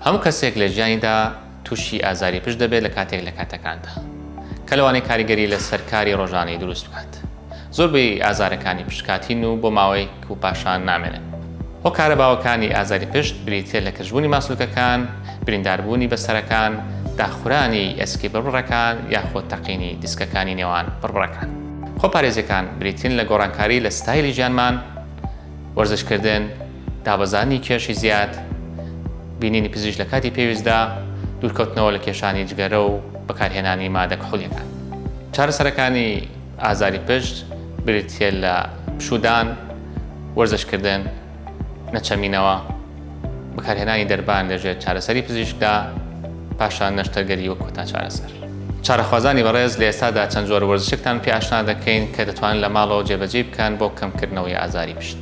هەموو کەسێک لە ژیانیدا تووشی ئازاری پشت دەبێت لە کاتێک لە کاتەکاندا کە لەوانەیە کاریگەری لەسەر کاری ڕۆژانەی دروست بکات زۆربەی ئازارەکانی پشت کاتین و بۆ ماوەیەک و پاشان نامێنن. هۆکارە باوەکانی ئازاری پشت بریتییە لە کزبوونی ماسولکەکان، برینداربوونی بەستەرەکان، داخورانی ئێسکی بڕبڕەکان یاخود تەقینی دیسکەکانی نێوان بڕبڕەکان. خۆپارێزییەکان بریتین لە گۆڕانکاری لە ستایلی ژیانمان، وەرزشکردن، دابەزاندنی کێشی زیاد، بینینی پزیشک لە کاتی پێویستدا، دوورکەوتنەوە لە کێشانی جگەرە و بەکارهێنانی مادە کحولییەکان. چارەسەرەکانی. ئازاری پشت بریتییە لە پشوودان، وەرزشکردن، نەچەمینەوە، بەکارهێنانی دەربان لەژێر چارەسەری پزیشکدا، پاشان نەشتەرگەری وەک کۆتا چارەسەر. چارەخوازانی بەڕێز، لە ئێستادا چەند جۆر وەرزشێکتان پێ ئاشنا دەکەین کە دەتوانن لە ماڵەوە جێبەجێی بکەن بۆ کەمکردنەوەی ئازاری پشت.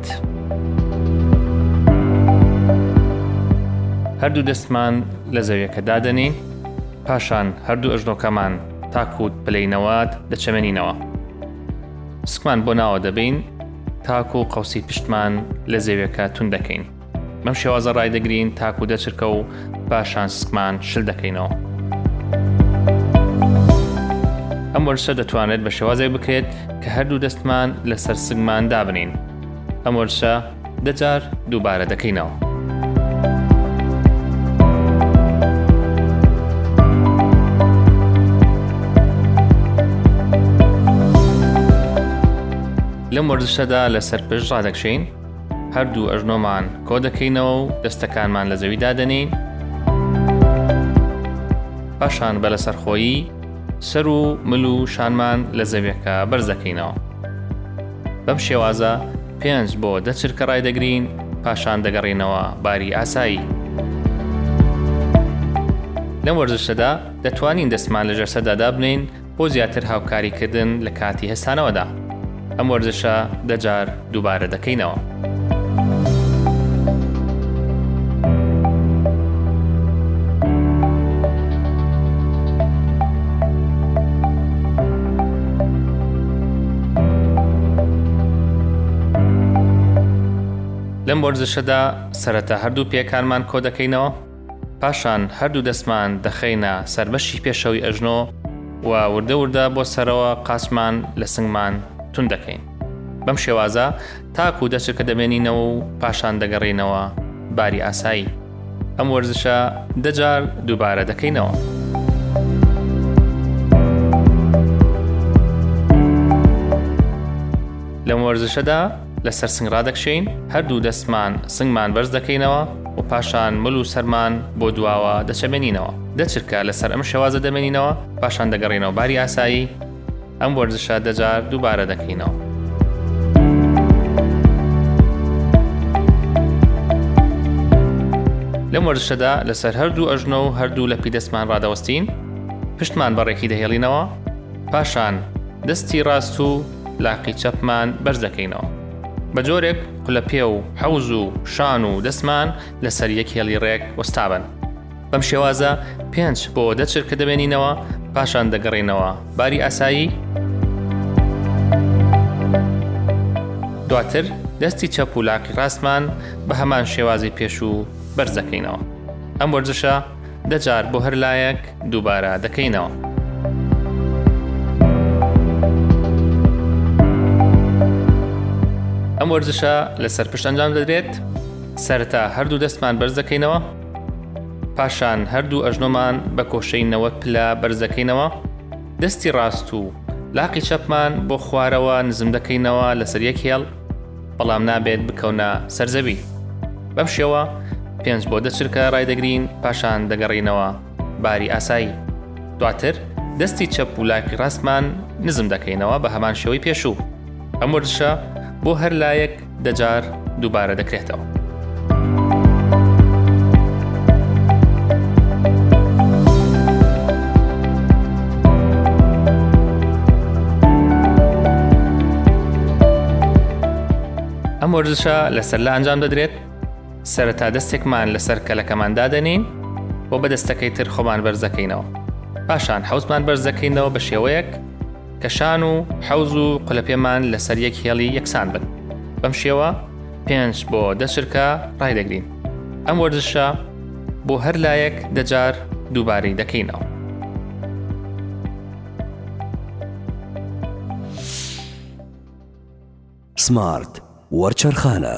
بێت. هەردوو دەستمان لە زەویەکە دادەنین پاشان هەردوو ئەژنۆکەمان تاکووت پلەی نەوات دەچەمێنینەوە سکمان بۆ ناوە دەبین تاکو و قوسی پشتمان لە زەویەکە تون دەکەین بەم شێوازە ڕایدەگرین تاکو دەچرکە و پاشان سکمان شل دەکەینەوە. ئەم وەرشە دەتوانێت بە شێوازێک بکرێت کە هەردوو دەستمان لەسەر سگمان دابنین ئەم وەرشە دەجار دووبارە دەکەینەوە. لەم وەرزشەدا لەسەر پشت ڕادەکشین هەردوو ئەژنۆمان کۆ دەکەینەوە و دەستەکانمان لە زەوی دادەنێین. پاشان بە لەسەرخۆیی سەر و مل و شانمان لە زەویەکە بەرز دەکەینەوە. بەم شێوازە پێنج بۆ دە چرکە ڕایدەگرین پاشان دەگەڕینەوە باری ئاسایی. لەم وەرزشەدا دەتوانین دەستمان لە ژەرسەدا دابنێین بۆ زیاتر هاوکاری کردن لە کاتی هەستانەوەدا ئەم وەرزشە دە جار دووبارە دەکەینەوە. لەم وەرزشەدا سەرەتا هەردوو پێکانمان کۆدەکەینەوە پاشان هەردوو دەستمان دەخەینە سەر بەشی پێشەوەی ئەژنۆ و وردە وردە بۆ سەرەوە قاچمان لە سنگمان توند دەکەین بەم شێوازە تاکو دەچکە دەمێنینەوە و پاشان دەگەڕێینەوە باری ئاسایی ئەم وەرزشە دەجار دووبارە دەکەینەوە. لەم وەرزشەدا لەسەر سنگ ڕادەکشێین هەردوو دەستمان سنگمان بەرز دەکەینەوە و پاشان مل و سەرمان بۆ دواوە دەچەمێنینەوە دەچرکە لەسەر ئەم شێوازە دەمێنینەوە پاشان دەگەڕینەوە باری ئاسایی ئەم وەرزشە دەجار دووبارە دەکەینەوە لەم وەرزشەدا لەسەر هەردوو ئەژنۆ و هەردوو لە پیدەستمان ڕادەوەستین پشتمان بەڕێکی دەهێڵینەوە پاشان دەستی ڕاست و لاقی چەپمان بەرز دەکەینەوە بە جۆرێک قلە پێ و حەوز و شان و دەستمان لەسەر یەک هێڵی ڕێک وەستابن بەم شێوازە پێنج بۆ دەچر کە دەبێنینەوە پاشان دەگەڕینەوە باری ئاسایی دواتر دەستی چەپ و لاقی ڕاستمان بە هەمان شێوازی پێشوو بەرزەکەینەوە ئەم وەرزشە دە جار بۆ هەر لایەک دووبارە دەکەینەوە. ئەم وەرزشە لەسەر پشت ئەنجام دەدرێت سەرتا هەردوو دەستمان بەرز دەکەینەوە پاشان هەردوو ئەژنۆمان بە کۆشەی نەوە پلە بەرزەکەینەوە دەستی ڕاست و لاقی چەپمان بۆ خوارەوە نزم دەکەینەوە لەسەر یەک هێڵ بەڵام نابێت بکەونە سەرزەوی بەم شێوە پێنج بۆ دە چرکە ڕایدەگرین پاشان دەگەڕینەوە باری ئاسایی دواتر دەستی چەپ و لاقی ڕاستمان نزم دەکەینەوە بە هەمان شێوەی پێشوو ئەم وەرزشە بۆ هەر لایەک دەجار دووبارە دەکرێتەوە. ئەم وەرزشە لەسەر لە ئەنجام دەدرێت سەرەتا دەستێکمان لەسەر کەلەکەمان دادەنین و بە دەستەکەی تر خۆمان بەرزەکەینەوە پاشان حوزمان بەرزەکەینەوە بە شێوەیەک کە شان و حەوز و قلە پێمان لەسەر یەک هێڵی یەکسان بن بەم شێوە پێنج بۆ دە چرکە ڕایدەگرین ئەم وەرزشە بۆ هەر لایەک دەجار دووبارەی دەکەینەوە سمارت وەرچەرخانە